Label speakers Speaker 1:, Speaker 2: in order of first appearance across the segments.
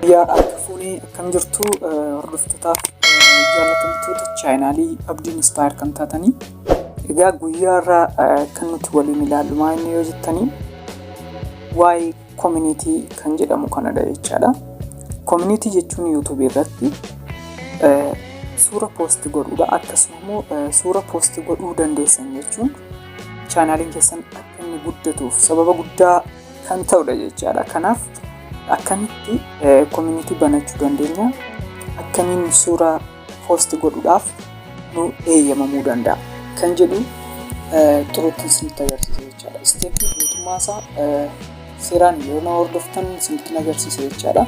Speaker 1: Biyyaa akka fuunee akkam jirtu hordoftotaaf jaallatamtoota chaayinaalii abdiin istaayir kan taatanii egaa guyyaa irraa kan nuti waliin ilaallu maal inni yoo jettanii waa'ee community kan jedhamu kanadha jechaadha. Community jechuun YouTube irratti eh, suura post godhuudha. Akkasuma immoo eh, suura post godhuu dandeessan jechuun chaanaaliin keessan akka inni guddatuuf sababa guddaa kan ta'udha jechaadha. Kanaaf akkamitti eh, community banachuu dandeenya? Akkamiin suura post godhuudhaaf nu eeyyamamuu danda'a kan jedhu xurootti isinitti agarsiisa jechaadha. Isteeppii guutummaa isaa seeraan yoo na hordoftan isinitti agarsiisa jechaadha.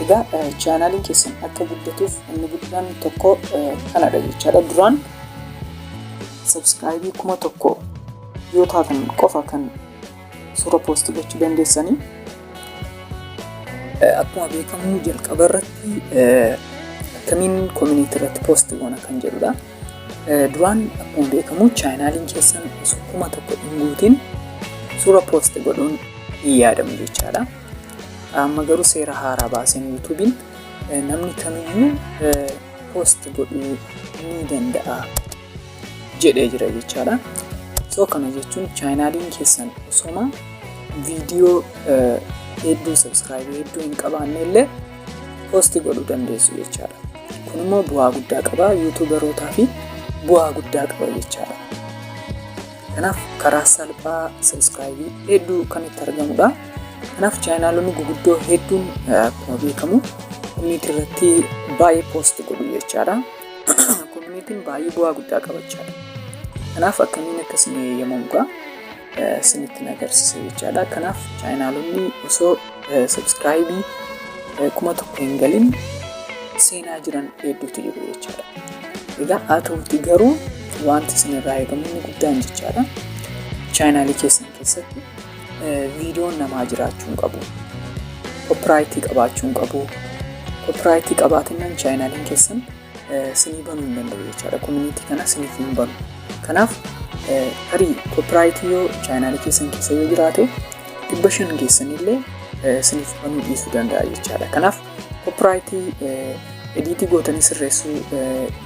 Speaker 1: Egaa chaanaaliin keessan akka guddatuuf inni guddaan tokko kanadha jechaadha. Duraan sabskraayibii kuma tokko yoo taatan qofa kan suura poosti gochuu dandeessanii. Akkuma beekamu jalqaba irratti akkamiin koominiitii irratti poosti goona kan jedhudha. Duraan akkuma beekamu chaayinaaliin keessan osoo kuma tokko hin guutiin suura poosti godhuun hin yaadamu jechaadha. Amma garuu seera haaraa baaseen yuutuubiin namni kamiyyuu poosti godhuu ni danda'a. jedhee jira jechaadha. So kana jechuun chaayinaaliin keessan osoma viidiyoo hedduu sabsiraayibii hedduu hin qabaanne illee poosti godhuu dandeessu jechaadha. Kun immoo bu'aa guddaa qaba yuutuubarootaa fi bu'aa guddaa qaba jechaadha. Kanaaf karaa salphaa sabsiraayibii hedduu kan itti argamudha. Kanaaf chaayinaalonni guguddoo hedduun akkuma beekamu inni irratti baay'ee poosti godhu jechaadha. Koominitiin baay'ee bu'aa guddaa qabachaa dha. Kanaaf akkamiin akka isin eeyyamamu gaa isinitti na agarsiisa jechaadha. Kanaaf chaayinaalonni osoo sabskraayibii kuma tokko hin galin seenaa jiran hedduutu jiru jechaadha. Egaa haa ta'uuti garuu wanti isin irraa eegamu inni guddaan jechaadha. Chaayinaalii keessan keessatti viidiyoon namaa jiraachuu hin qabu. Koppiraayitii qabaachuu hin qabu. Koppiraayitii qabaatannaan chaayinaaliin keessan sinii banuu hin danda'u jechaadha. Koominiitii kana siniif hin banu. Kanaaf tarii koppiraayitii yoo chaayinaalii keessan keessa yoo jiraate dhibba shan keessanillee siniif banuu dhiisuu danda'a jechaadha. Kanaaf koppiraayitii ediitii gootanii sirreessuu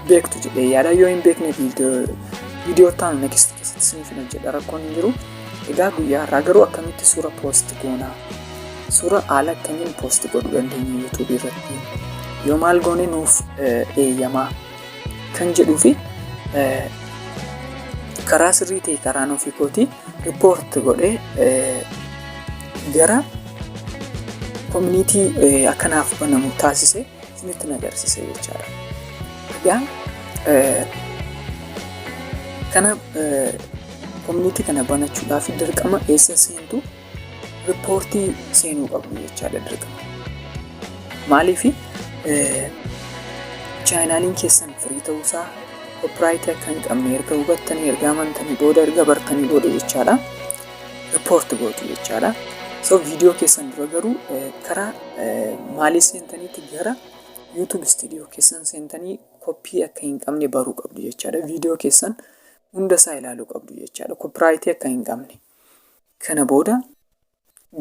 Speaker 1: beektu jedhee yaada yoo hin beekne viidiyoo ta'an next Akkasitti isiniif hin hojjedha rakkoon hin jiru. Egaa guyyaa har'aa garuu akkamitti suura poost goona? Suura haala akkamiin poost godhuu dandeenya YouTube irratti? Yoo maal goone nuuf eeyyamaa kan jedhuu fi karaa sirrii ta'e karaa nuuf hiikootii riippoorti godhee gara koominiitii akkanaaf banamu taasise isinitti na agarsiisa jechaadha. Egaa kana koominiitii kana banachuudhaaf dirqama eessa seentu riippoortii seenuu qabdu jechaadha dirqama. Maaliif chaayinaaliin keessan firii ta'uusaa koopiraayitii akka hin qabne erga hubattanii erga amantanii booda erga bartanii booda jechaadha. report gootu jechaadha. So video keessan dura garuu karaa maalii seentaniitti gara YouTube studio keessan seentanii koppii akka hin qabne baruu qabdu jechaadha. Video keessan hunda isaa ilaaluu qabdu jechaadha. Koppiraayitii akka hin qabne. Kana booda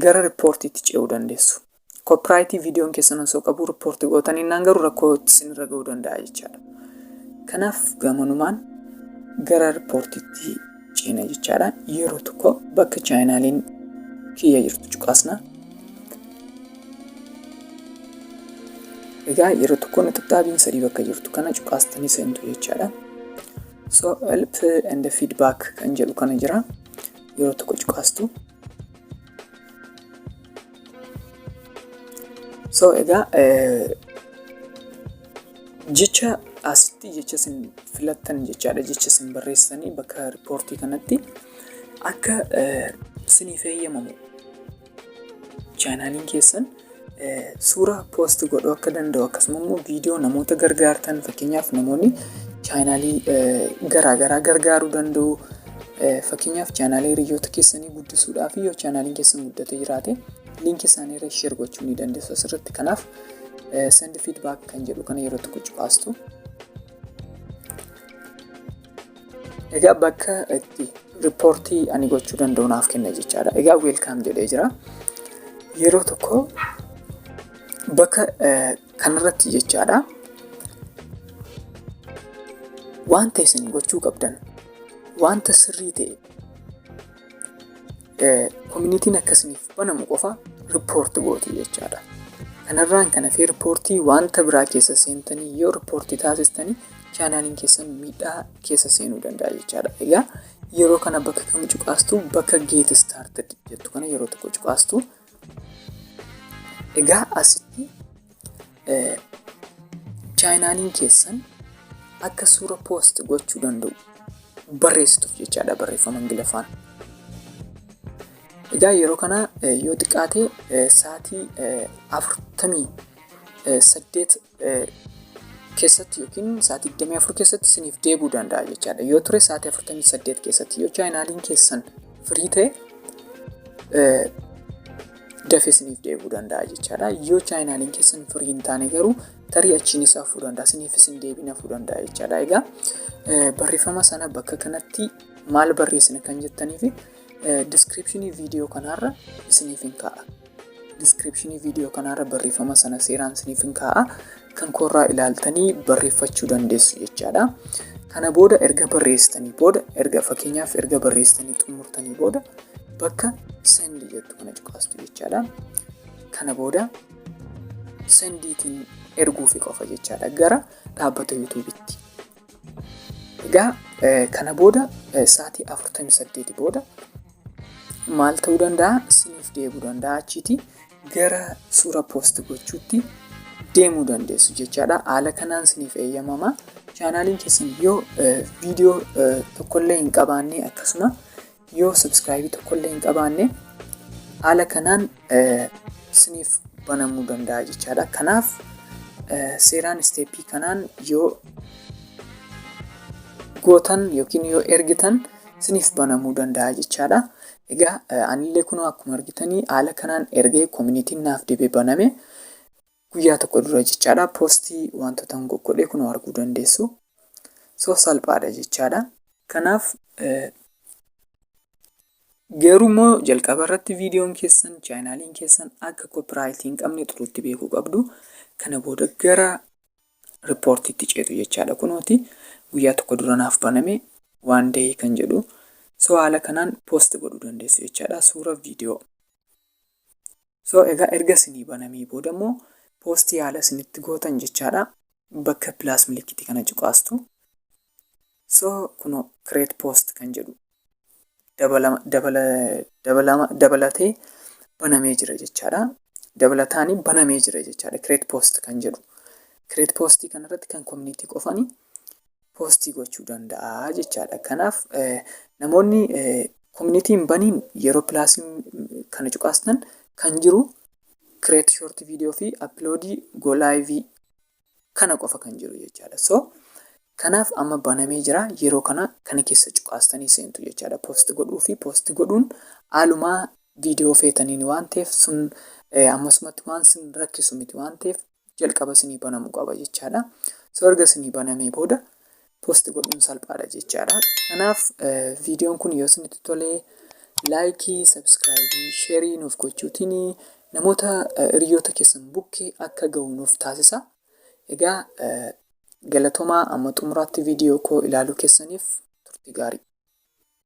Speaker 1: gara riippoortiitti ce'uu dandeessu. Koopiraayitii viidiyoon keessan osoo qabuu rippoortii gootan innaan garuu rakkoo isinirra ga'uu danda'a jechaadha. Kanaaf gamanumaan gara rippoortiitti ceena jechaadha. Yeroo tokko bakka chaayinaaliin kiyya jirtu cuqaasna. Egaa yeroo tokko nixaxaabiin sadii bakka jirtu kana cuqaastanii seentu jechaadha. So help and feedback kan jedhu kana jira. Yeroo tokko cuqaastu. So egaa jecha asitti jecha isin filattan jechaadha jecha isin barreessanii bakka riippoortii kanatti akka isiniif eeyyamamu chaanaaliin keessan Suura poost godhuu akka danda'u akkasuma immoo viidiyoo namoota gargaartan fakkeenyaaf namoonni chaanaalii garaagaraa gargaaruu danda'u. Fakkeenyaaf chaanaalii hiriyoota keessanii guddisuudhaaf yoo chaanaaliin keessan guddatee jiraate liinkii isaanii irra sheer gochuu ni dandeessu asirratti. Kanaaf send feedback kan jedhu kana yeroo tokko cuqaastu. Egaa bakka itti riippoortii ani gochuu danda'u naaf kenna jechaadha. Egaa weelkaam jedhee jira. Yeroo tokko bakka kanarratti jechaadha. Wanta isin gochuu qabdan wanta sirrii ta'e koominitiin akkasiniif banamu qofa riippoorti gootu jechaadha. Kanarraan kan hafee riippoortii wanta biraa keessa seentanii yoo riippoortii taasistanii chaanaaliin keessan miidhaa keessa seenuu danda'a jechaadha. Egaa yeroo kana bakka kam cuqaastu bakka geet istaartid jettu kana yeroo tokko cuqaastu Egaa asitti chaayinaaliin keessan akka suura poost gochuu danda'u barreessituuf jechaadha barreeffama Ingiliffaan. Egaa yeroo kana yoo xiqqaate sa'aatii afurtamii saddeet keessatti yookiin sa'aatii 24 keessatti isiniif deebi'uu danda'a jechaadha. Yoo ture sa'aatii 48 keessatti yoo chaayinaaliin keessan firii ta'e dafee isiniif deebi'uu danda'a jechaadha. Yoo chaayinaaliin keessan firii hin taane garuu tarii achiin isaa fudhuu danda'a. Isiniif isin deebiina fudhuu danda'a jechaadha. Egaa barreeffama sana bakka kanatti maal barreessina kan jettaniif Description video kanaarra isiniif hin kaa'a. Description video kanaarra barreeffama sana seeraan isiniif hin kaa'a. Kan koorraa ilaaltanii barreeffachuu dandeessu jechaadha. Kana booda erga barreessitanii booda erga fakkeenyaaf erga barreessitanii xumurtanii booda bakka sendi jettu kana cuqaastu jechaadha. Kana booda sendiitiin erguufi qofa jechaadha gara dhaabbata yuutuubitti. Egaa kana booda sa'aatii 48 booda maal ta'uu danda'a isiniif deebi'uu danda'a achiiti gara suura poost gochuutti deemuu dandeessu jechaadha haala kanaan isiniif eeyyamama chaanaaliin keessan yoo viidiyoo tokkollee hin qabaanne akkasuma yoo subscribe tokkollee hin qabaanne haala kanaan isiniif banamuu danda'a jechaadha. Kanaaf seeraan isteeppii kanaan yoo gootan yookiin yoo ergitan isiniif banamuu danda'a jechaadha. Egaa anillee kunoo akkuma argitanii haala kanaan ergee koominitiin naaf deebee baname. guyyaa tokko dura jechaadha poostii wantoota hin goggodhee kun arguu dandeessu so salphaadha jechaadha kanaaf garuu immoo jalqaba irratti viidiyoon keessan chaayinaaliin keessan akka koopiraayitii hin qabne xuruutti beekuu qabdu kana booda gara riippoortiitti ceetu jechaadha kunooti guyyaa tokko dura naaf baname waan da'ee kan jedhu so haala kanaan poost godhuu dandeessu jechaadha suura viidiyoo So egaa erga isinii banamee booda immoo post yaala isinitti gootan jechaadha. Bakka plus milikitii kana cuqaastu. So kunoo create post kan jedhu dabalama dabala dabalama dabalatee banamee jira jechaadha. Dabalataanii banamee jira jechaadha create post kan jedhu. Create post kanarratti kan community qofani poostii gochuu danda'a jechaadha. Kanaaf namoonni community hin baniin yeroo plus kana cuqaastan kan jiru create short video fi upload go live kana qofa kan jiru jechaadha. So kanaaf amma banamee jira yeroo kana kana keessa cuqaastanii seentu jechaadha. Post godhuu fi post godhuun haalumaa viidiyoo feetaniin waan ta'eef sun ammasumatti waan sin rakkisu miti waan ta'eef jalqaba isinii banamu qaba jechaadha. So erga isinii banamee booda posti godhuun salphaadha jechaadha. Kanaaf viidiyoon kun yoo isinitti tole laayikii, sabskraayibii, sheerii nuuf gochuutiin namoota hiriyoota keessan bukkee akka ga'u nuuf taasisa. Egaa galatomaa amma xumuraatti viidiyoo koo ilaaluu keessaniif turtii gaarii.